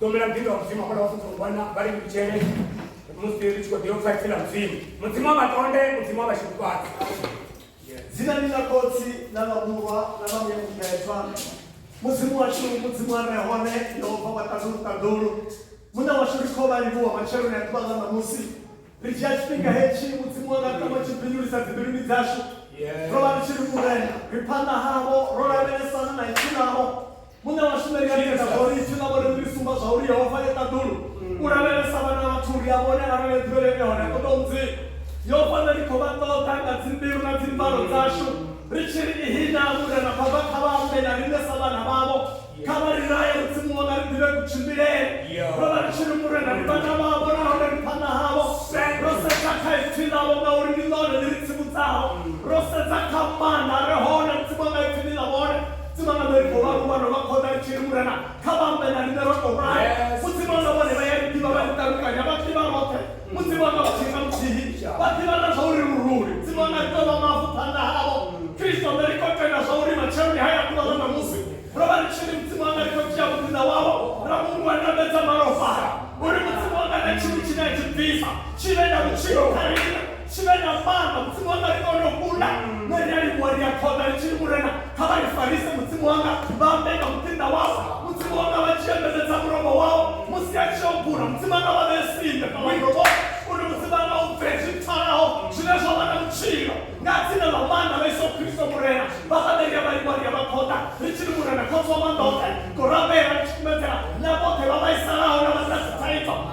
ḓombela muḓinḓa wa mudzimu hafhaḽa wa fufurungwana vha ri ndutshele musi ri tshi khou ḓiyo pfa tsila mudzimu mudzimu wa vhatonde mudzimu wa vhashifhufhadzi dzina ni ḽa khotsi na vhamuwa na vhamuya mubebva mudzimu washu mudzimu a re hone yehova wa ṱaḓulu ṱaḓulu muṋe washu ri khou vha livhuwa matsheloni a ḓuvha ḽa ṋamusi ri dzhia tshifhinga hetshi mudzimu wanga tama tshi bindulisa dzimbiluni dzashu ro vha ri tshi ri murena ri phanḓa havho ro lavhelesana na ipfi ḽavho muṋe wa shumeli ya ita zwo ri ipfi ḽavho ri ri sumba zwa uri yehova ye ṱaḓulu u lavhelesa vhana vhathu uri a vhone arali ḓuvhele ine hone ṱoḓa u mudzimu yehova nṋe ri khou vha ṱoḓa nga dzimbilu na dzimvalo dzashu ri tshi ri ihina murena baba kha vha ambe na riṋe sa vhana vhavho kha vha ri raye mudzimu wanga ri ḓivhe kutshimbilele ro vha ri tshi ri murena ri vhana vhavho nahone ri phanḓa havho ro sedza kha ipfi ḽavho ngauri ndi ḽone ḽi ri tsivhudzaho ro sedza kha maanḓa a re hone ri tsivha nga ipfi ḽi ḽa vhone tsivha nga ḽori vho vharuwa no vha khoḓa ri tshi ri murena kha vha ambe na riṋe ro tou rali mudzimu wanga vhone vha ya ri ḓivha vha ri ṱalukanya vha ḓivha roṱhe musi vhana vha tshika muthihi vha ḓivha na zwa uri luruli dzimu anga ri tovha mavu phanḓa havho kristo ṋe ri khou tenda zwa uri matshelo ndi haya ḓuvha ḽa ṋamusi ro vha ri tshiri mudzimu anga ri khou dzhia vhuḓinda wavho ra mungwa ndambedza malofara uri mudzimu anga na tshini tshine a tshi bvisa tshi vhe na vhutshilo kha rina tshi vhe na fana mudzimu anga ri kone u kunda ṋe ri a livhuwa ri a khoḓa ri tshiri murena kha vha ifarise mudzimu wanga vha ambe nga muṱinda wao mudzimu wanga vha tshi embeledza mulomo wao musi a tshi obula mudzimu wanga vha vhee simbe nga wainobo uri mudzimu wanga u bve zwi pfalaho zwine zwa vha na vhutshilo nga dzina ḽa maanḓa ḽa iso kristo murena vha sa ḓe ria vha livha ria vha khoḓa ri tshi ri murena khotsi wa maanḓa oṱhe ngorabela ri tshi kumedzela na vhoṱhe vha vhaisalaho na vha sa si thaidzo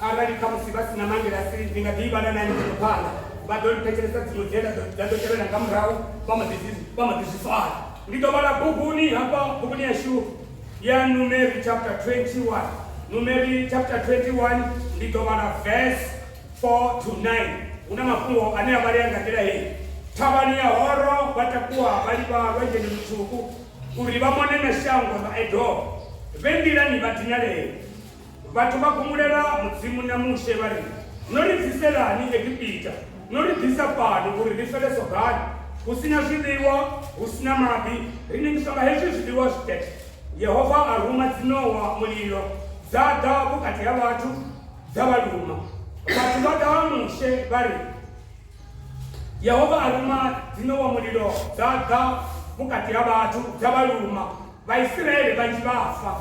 Arali khamusi vha si na mangilasi, ndi nga ḓi ivhala na ene ndi tshi khou phanḓa. Vha ḓo ri thetshelesa dziṅwe dze nda ḓo- nda ḓo tevhela nga murahu, vha mbo ḓi zwi- vha mbo ḓi zwi swaya. Ndi ḓo vhala buguni hafha buguni yashu ya Numeri chapter 21. Numeri chapter 21 ndi ḓo vhala verse 4 to 9. Hu na mafhungo ane a vhalea nga nḓila heyi. Thavhani ya horo vha takuwa vha livha lwanzheni lutswuku uri vha mone na shango ḽa Edomo. Vhe nḓilani vha dinalea. Vhathu vha gumulela Mudzimu na Mushe vha ri, No ri bviselani Egipita? No ri ḓisa fhano uri ri fele sogani, hu si na zwiḽiwa, hu si na maḓi, ri nengiswa nga hezwi zwiḽiwa zwitete. Yehova a ruma dziṋowa mulilo, dza ḓa vhukati ha vhathu dza vha luma. Vhathu vha ḓa ha Mushe vha ri, Yehova a ruma dziṋowa mulilo, dza ḓa vhukati ha vhathu dza vha luma. Vhaisiraele vhanzhi vha a fa.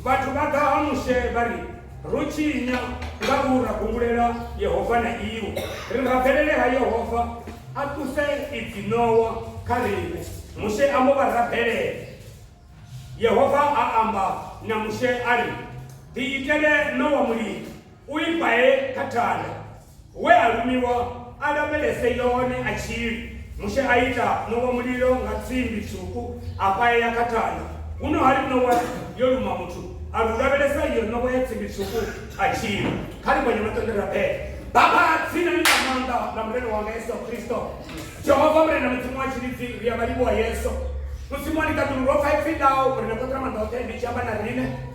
Vhathu vha ḓa ha Mushe vha ri, Ro tshinya nga u ra gungulela Yehova na iwe. Ri rabelele ha Yehova a ṱuse idzi ṋowa kha riṋe. Mushe a mbo vha rabelela. Yehova a amba na Mushe a ri, Ḓiitele ṋowa mulilo, u i bae kha thanda. We a lumiwa a lavhelese yone a tshi ri, Mushe a ita ṋowa mulilo nga tsimbi tswuku a paea kha thanda. Huno ha ri ṋowa yo luma muthu a ri u lavhelesa iyo ṋowa ya tsimbi tswuku a tshi ri, Kha ri gonye maṱende ra bele. Baba, dzina ḽi na maanḓa ḽa Murena wanga Yesu Kristo, Jehova Murena Mudzimu wa tshilidzi, ri a vha livhuwa Yesu. Mudzimu a ni ṱaḓulu, ro pfa ipfi ḽau uri na ṱoḓela maanḓa oṱhe ni tshi amba na riṋe.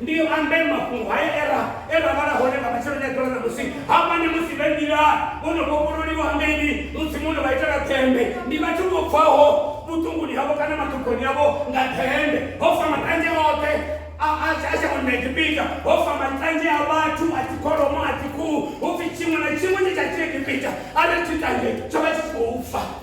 Ndi ambe mafhungo haya e ra e ra vhala hone nga matsheloni a ḓuvha ḽa ṋamusi. Hamani musi vhe nḓilani, vho no vhofhololiwa hangeini, Mudzimu o no vha itela ḓembe. Ndi vhathu vho bvaho vhuṱunguni havho kana maṱhogoni avho nga ḓembe. Ho fa matanzhe oṱhe a a a shangoni ḽa Egipita, ho fa matanzhe a vhathu, a dzikholomo, a dzikhuhu, hu pfi tshiṅwe na tshiṅwe tshe tsha tshi Egipita arali tshi tanzhe tsho vha tshi tshi khou fa.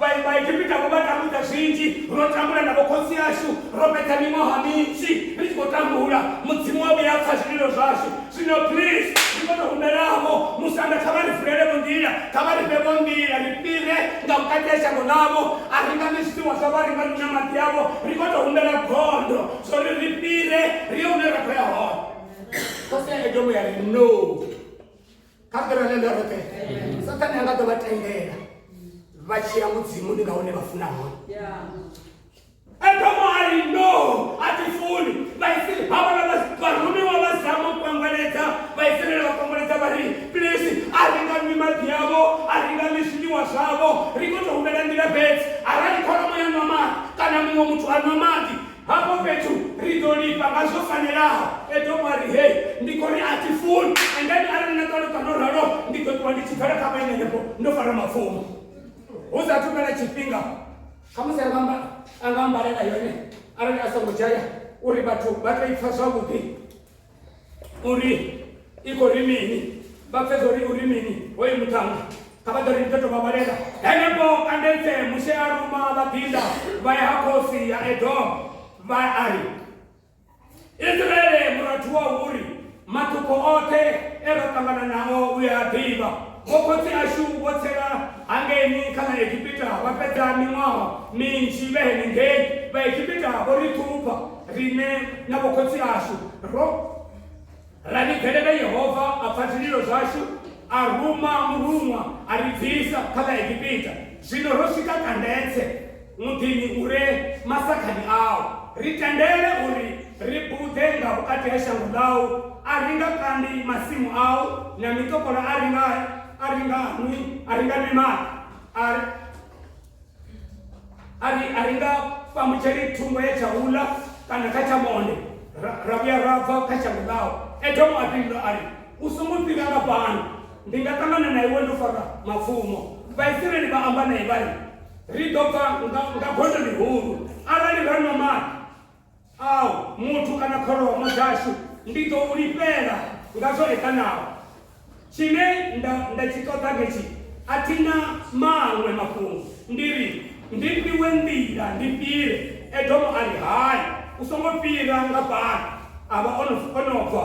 Vha- vhaegipita vho vha tambudza zwinzhi ro tambula na vhokhotsi ashu ro fhedza miṅwaha minzhi ri tshi khou tambula mudzimu wa vhuya pfa zwililo zwashu zwino please ndi kone humbelavo musanda kha vha ri vulelevho nḓila kha vha ri fhevho nḓila ri fhire nga vhukati ha shango ḽavho a ri nga ḽi zwiḽiwa zwavho a ri nga ḽinya maḓi avho ri kone humbela gondo zwo ri ri fhire ri ye hune ra khou ya hone khosi ya edomo ya ri no kha fhira ḽe ḽoroṱhe sathane anga ḓo vha tendela vha tshiya mudzimuni nga hune vha funa hone edomo ari no a ti funi vhaisraeli ha vhala vharumiwa vha zama u kwangweledza vhaisraeli vha kwangweledza vha ri pilisi a ri nga nwi maḓi yavho a ri nga nwi zwiḽiwa zwavho ri kho to humela nḓila fhedzi arali kholomo ya nwa maḓi kana muṅwe muthu a nwa maḓi Hafho fhethu ri ḓo lifha nga zwo fanelaho. Edomo a ri, Hei, ndi khou ri a thi funi. And then arali na ṱaluka no ralo, ndi ḓo ṱuwa ndi tshi bvela kha vhaeni henefho ndo fara mapfumo. Hu sa athu fhela tshifhinga, khamusi a nga amba, a nga ambalela yone arali a songo dzhaya uri vhathu vha tou i pfa zwavhuḓi. uri i khou ri mini vha pfedza uri uri mini hoyu muṱhanga kha vha ḓo ri ḓo tovha vhalela henefho andetse mushe a ruma vhaḓinda vha ya ha khosi ya edom vha a ri israele murathu wa huri maṱuko oṱhe e ra ṱangana nao u ya ḓivha vho khotsi ashu vho tsela hangeni kha ḽa egipita vha fhedza miṅwaha minzhi vhe henengei vhaegipita vho ri ṱhupha riṋe na vhokhotsi ashu ro ra vhigelela yehova a pfa zwililo zwashu a ruma muruṅwa a ri bvisa kha ḽa egipita zwino ro swika kandetse muḓini u re masakhani awo ri tendele uri ri buḓe nga vhukati ha shango ḽau a ri nga kandi masimu au na mitopola a ri nga a ri nga nwi a ri nga nwi maḓi a ri a ri nga fhamutsheli thungo ya tsha hula kana kha tsha monde ra ra vhuya ra bva kha shango ḽawo edomo a fhindula a ri u songo fhira nga fhano ndi nga ṱangana na iwe ndo fara mapfumo vhaisraeli vha amba nae vha ri ri ḓo bva nga gondo ḽihulu arali ra nwa maḓi Au, muthu kana kholomo dzashu ndi ḓo u lifhela nga zwo eḓanaho. Tshine nda, nda tshi ṱoḓa ndi tshi, a thi na maṅwe mafhungo. Ndi ri, Ndi fhiwe nḓila ndi fhire. Edomo a ri, Hai, u songo fhira nga fhano. A vha o no, o no bva.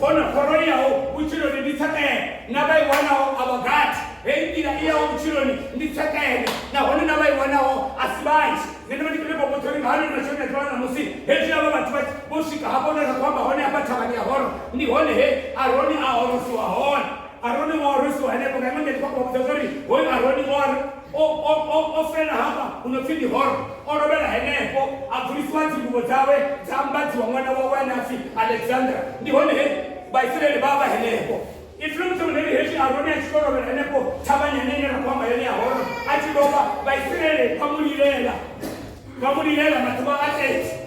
hona khoro iyaho vhutshiloni ndi tshekele na vha i wanaho a vha gathi heyi nḓila iyaho vhutshiloni ndi tshekele nahone na vha i wanaho a si vhanzhi nṋe ndi vha ndi khou nga hano masheleni a ḓiwana musi hezwi avha vhathu vha vho swika hafho hune ra khou amba hone hafha thavhani ya horo ndi hone he aroni a horosiwa hone aroni o horosiwa henefho nga iṅwe nḓa ndi khou vhudza zwa uri hoyu aroni o o, o, o, o fela hafha hu no pfi ndi horo o lovhela henefho a bvulisiwa dzingubo dzawe dza ambadziwa ṅwana wawe ane a pfi alexandra ndi hone he vhaisraeli vha vha henefho ipfi ḽo muthu muneli hezwi aroni a tshi to lovhela henefho thavhani yane ine ra khou amba yone ya horo a tshi lovha vhaisraeli vha mu lilela vha mu lilela maḓuvha a 30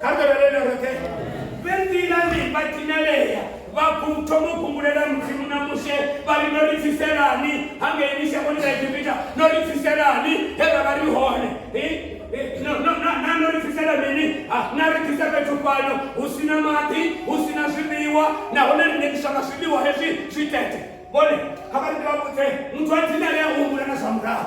kambelelele roṱhe vhe nḓilani vha dinalea vha thoma u khumbulela mudzimu na mushe vha ri no ri bviselani hangei mishangoni ya egipita no ri bviselani he ra vha ri hone na no ri bvisela mini na ri bvisa fhethu fhano hu si na maḓi hu si na zwiḽiwa nahone ri nekiswa nga zwiḽiwa hezwi zwi tete vhone kha vha ri ndi vha vhudze muthu a dinalea u humbula na zwa murahu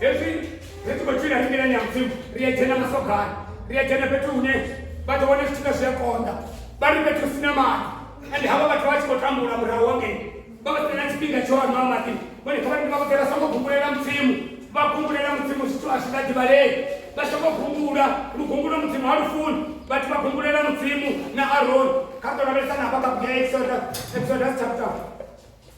hezwi ri tshi khou tshila ri nḓilani ya mudzimu ri a dzhena masogani ri a dzhena fhethu hune vha ḓo wana zwithu nga zwi a konḓa vha ri fhethu hu si na maḓi ende havha vhathu vha tshi khou tambula murahu wa ngei vha vha sina tshifhinga tsho nwa maḓi vhone kha vhaḓi vha vhoḓe vha songo gumbulela mudzimu vha gumbulela mudzimu zwithu a zwi vha ḓivhalei vha songo gumbula lugumbulo mudzimu ha lufuni vhathu vha gumbulela mudzimu na aroni kha ri ḓo lavhelesa na hafha kha bugu ya exodus exodus chapter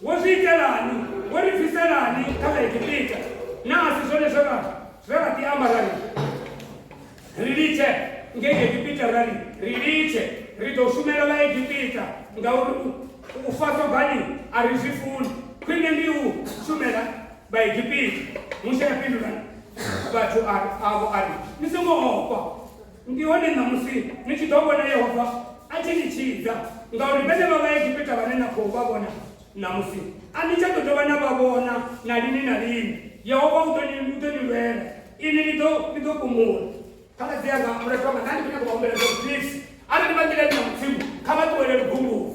Wo zwi itelani? Wo ri bviselani kha ḽa Egipita, na a si zwone zwe ra zwe ra ḓi amba ra ri, Ri litshe ngei Egipita, ra ri, Ri litshe, ri ḓo shumela Vhaegipita, ngauri u, u fa sogani a ri zwi funi, khwine ndi u shumela Vhaegipita. Mushe a fhindula vhathu a, avho a ri, Ni songo ofha. Ndi hone ṋamusi ni tshi ḓo vhona Yehova a tshi ni tshidza, ngauri vhenevha Vhaegipita vhane na khou vha vhona ṋamusi, a ni tsha ḓo dovha na vha vhona na lini na lini. Yehova u ḓo ni, u ḓo ni lwela, inwi ni ḓo, ni ḓo fhumula. Khaladzi anga, mulwadze wanga, nda ndi khou nyanga u vha humbela zwa vhudivhi. Arali vha nḓilani ya Mudzimu, kha vha ṱuwele lugunguni.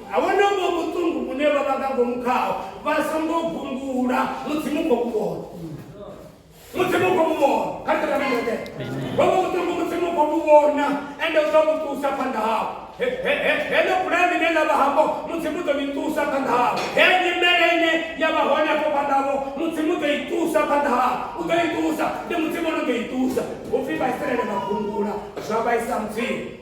A vhone uvho vhuṱungu vhune vha vha nga ngomu khaho vha songo gungula musi mu khou vhona musi mu khou vhona kha ri ṱavhanye nge vho vho vhuṱungu musi mu khou vhona ende u ḓo vhuṱusa phanḓa hao heḽo bulaya ḽine ḽa vha hafho musi mu ḓo ḽi ṱusa phanḓa hao he nyimele ine ya vha hone afho phanḓa havo musi mu ḓo i ṱusa phanḓa hao u ḓo i ṱusa ndi mudzimu ono ḓo i ṱusa upfhi vhaisraele vha gungula zwa vhaisa mudzimu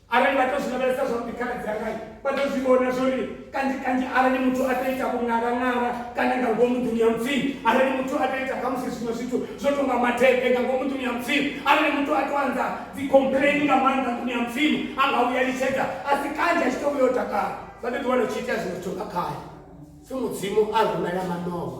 arali vha tou zwi lavhelesa zwavhuḓi khaladzi angai vha tou zwi vhona zwo ri kanzhi kanzhi arali muthu a tou ita vhungalangala kana nga ngomu nḓuni ya mudzimu arali muthu a tou ita khamusi zwiṅwe zwithu zwo tou nga mathebe nga ngomu nḓuni ya mudzimu arali muthu a tou anza dzicomplaini nga maanḓa nḓuni ya mudzimu a nga vhuya litshedza a si kanzhi a tshi tou vhuya o takala sa ḓo ḓiwana u tshi itea zwiṅwe zwithu nga khae si mudzimu a rumela manowa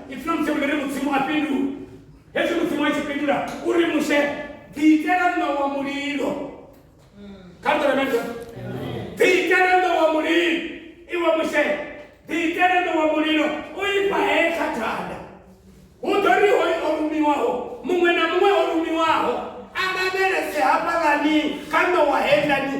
ipfi ḽa mushe uri mudzimu a fhindula hezwi mudzimu a tshi fhindula u ri mushe ḓiitela ṋa wa mulilo kha ḓoremedzo ḓiitela ṋa wa mulilo iwe mushe ḓiitela ṋa wa mulilo u ifha he kha thanda hu ḓo ri hoyu o rumiwaho muṅwe na muṅwe o rumiwaho a lavhelese hafhaḽani kha ṋowa heilani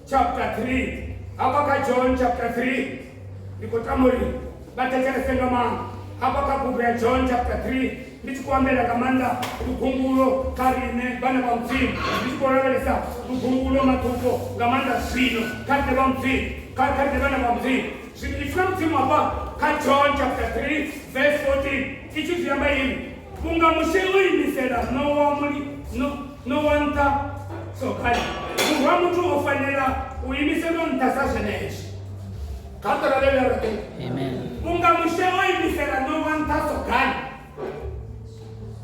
chapter 3 hafha kha john chapter 3 ndi khou tama uri vha thetshelese nga maanḓa hafha kha bugu ya john chapter 3 ndi tshi khou ambela nga maanḓa lugumbulo kha riṋe vhana vha mudzimu ndi tshi khou lavhelesa lugumbulo maṱuko nga maanḓa zwino kha riṋe vha mudzimu kha kha riṋe vhana vha mudzimu zwino ipfi ḽa mudzimu hafha kha john chapter 3 verse 14 i tshi zwi amba ini Vhunga Mushe o imisela ṋowa muli, no, ṋowa nṱha, sokani, Murwa wa muthu o fanela u imiselwa nṱha sa zwenezwo. Kha ri lavhelele ra ri, Amen. Vhunga Mushe o imisela ṋowa nṱha sogani,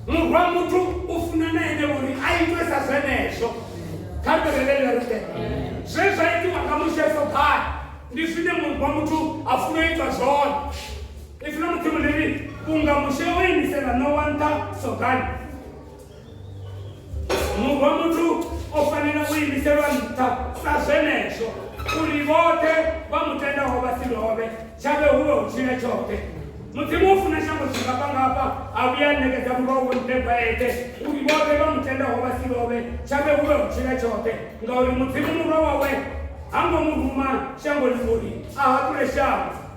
Murwa wa muthu u funa na ene uri a itwe sa zwenezwo. Kha ri lavhelele ra ri, Zwe zwa itiwa nga Mushe sogani ndi zwine Murwa wa muthu a funa u itwa zwone. If no mudzimu ndi ri unga mushe o imisela no wa nṱha sogani murwa muthu o fanela u imiselwa nṱha sa zwenezwo uri vhoṱhe vha mu tendaho vha si lovhe tshavhe hu vhe u tshila tshoṱhe mudzimu u funa shango tshingafha ngafha a vhuya ṋekedza murwa wo mpebwa eṱhe uri vhoṱhe vha mu tendaho vha si lovhe tshavhe hu vhe u tshila tshoṱhe ngauri mudzimu murwa wawe ha ngo mu ruma shangoni uri a haṱule shango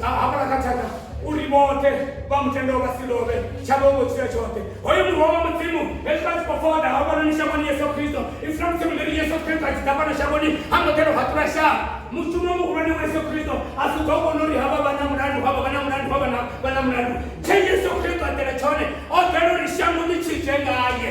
na hafhala kha thaka uri vhoṱhe vha mutendo vha si lovhe tshavho vho tshila tshoṱhe hoyo murwa wa mudzimu hezwi vha tshi khou foda hafhanoni shangoni yesu kristo iframsemleri yesu kristo a tshi ḓa fhano shangoni ha ngo ḓelo haṱula shaa mushumo muhulwane wa yesu kristo a si ḓo vhona uri havha vha na mulandu havha vha na mulandu havha vha na mulandu tshe yesu kristo a ḓela tshone o ḓela uri shango ḽi tshidze ngaye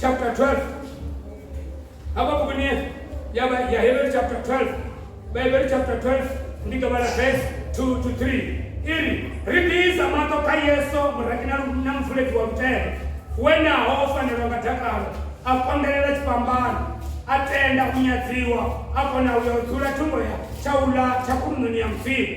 chapter 12 apa mukuni yaba ya hebrew chapter 12 ba hebrew chapter 12 ndi gaba la verse 2 to 3 iri ri ḓiisa maṱo kha yesu muraki na lu- na mvuledzi wa lutendo wenaho o fanelwa nga dakalo a kondelela tshifhambano a tenda u nyadziwa a kona u ya u dzula thungo ya tshaula tsha khulunoni ya mudzimu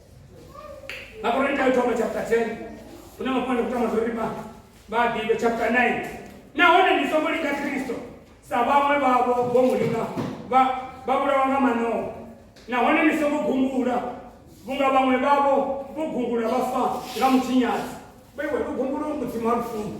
Makorinto yothoma chapter 10 hune mafhungo kutama zwo ri vhaḓivhe chapter 9 nahone ndi songo linga kristo sa vhaṅwe vhavho vho mu linga vha vhulawa nga manoho nahone ndi songo gungula vhunga vhaṅwe vhavho vho gungula vha fa nga mutshinyadzi vhaiwe u gungula mudzimu ha lufuno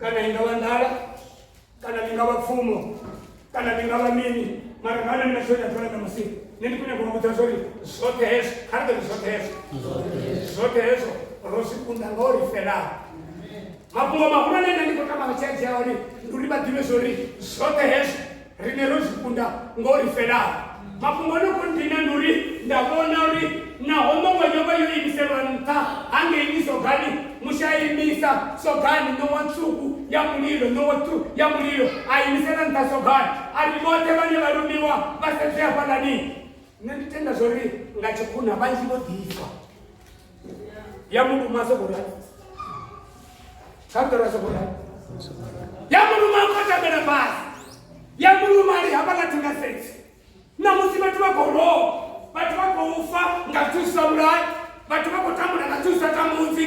kana i nga vha nḓala kana ḽi nga vha pfumo kana ḽi nga vha mini mara nga nṋe tsho ita fana ṋamusi nṋe ndi khou nyanga u vhudza zwa uri zwoṱhe hezwo kha ri ḓo ri zwoṱhe hezwo zwoṱhe hezwo ro zwi kunda nga o ri felaho mafhungo mahulwane nṋe ndi khou tama vha tshi a dzhia hone ndi uri vha ḓivhe zwa uri zwoṱhe hezwo rine ro zwi kunda ngo ri felaho mafhungo no khou ndina ndi uri nda vhona uri naho ṋowa yo vha yo imiselwa nṱha hangeini sogani mushaimisa sogani ṋowa tswuku ya mulilo ṋowa tswu ya mulilo a imisela nṱha sogani a ri vhoṱhe vhane vha lumiwa vha sedze hafhaḽani nṋe ndi tenda zwo ri nga tshikhuna vhanzhi vho ḓifha yamuluma sokola kakara sokola yamuluma kotamela basi yamuluma ali hapa natinga seti na musi vhathu vha khou lowa vhathu vha khou fa nga thusa vhulai vhathu vha khou tambula nga thusa tambudzi